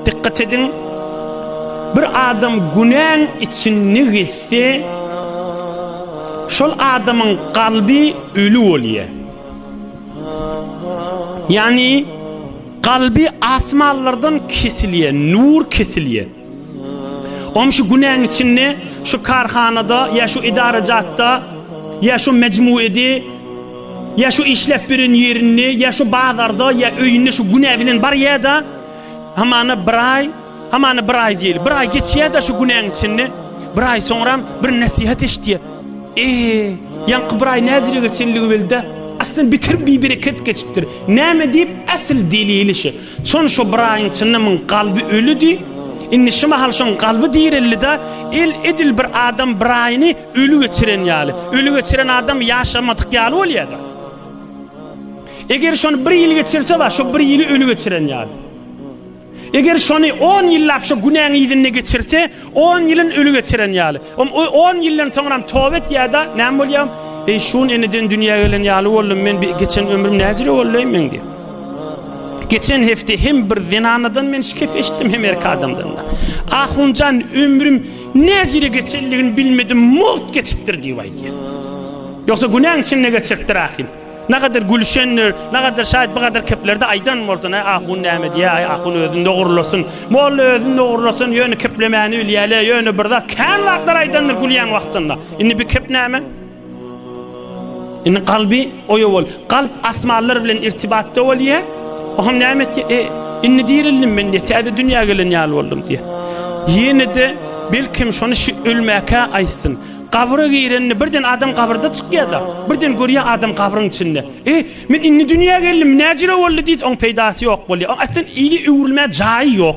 Dikkat edin, bir adam günäň içinde gezse, şol adamyň kalbi ölü bolýar. Yani kalbi asmanlardan kesilýär, nur kesilýär. Oňa şu günäň içinde, şu karhanada, ya şu idarajatda, ya şu mecmuedi, ya şu işlep birin yerinde, ya şu bazarda, ya öyünde şu günä bilen bar ya da, Hamana bir aý, hamana bir aý diýeli. Bir aý geçýär-de şu günäň içinde. Bir aý soňram bir nesihat eşitýär. Eee, ýaňky bir aý näzire geçenligi bildi. Aslynda bitir bibereket geçipdir. Näme diýip äsli delili şu. Çon şu bir aýyň içinde muň galby ölüdi. Indi şu mahal şoň galby direldi-de, el edil bir adam bir aýyny öli geçiren ýaly. Öli geçiren adam ýaşamadyk ýaly bolýar-da. Eger şony bir ýyl geçirse bar, şo bir ýyly öli geçiren ýaly. Eger şony on ýyllap şo günäň yzynda geçirse, on ýylyn öli geçiren ýaly. Om o on ýyldan soňram toba etýär-de, näme bolýar? Eý, şun eneden dünýä gelen ýaly boldum, men bi geçen ömrüm näjüre boldy-eý meň diýip. Geçen hepde hem bir zenanadan men şikes eşitdim, hem erkek adamdan-da. Ahunjan ömrüm näjüre geçendigini bilmedim, mugt geçipdir diýip aýdýar. Ýogsa günäň içinde geçiripdir ahim. Nagadyr gülüşendir, nagadyr şaýat bu gadar keplerdi aýdan bolsun, aý ahun näme diýýär, aý ahun özüni dogrulasyn. Molla özüni dogrulasyn, ýöne keplemäni bilýäle, ýöne bir zat kän zatlar aýdandyr gülýän wagtynda. Indi bir kep näme? Indi kalby oýa bol. Kalp asmanlar bilen irtibatda bolýa. O hem näme etdi? E, indi dirildim men diýýär, täze dünýä gelen ýaly boldum diýýär. Ýene-de belkim şony şu ölmäkä aýtsyn. Gabra girende birden adam gabyrda çykýada. Birden görýä adam gabryň içinde. E, men indi dünýä geldim, näjüre boldy diýdi, oň peýdasy ýok bolýa. Oň aslan ýeri öwrülmä jaýy ýok.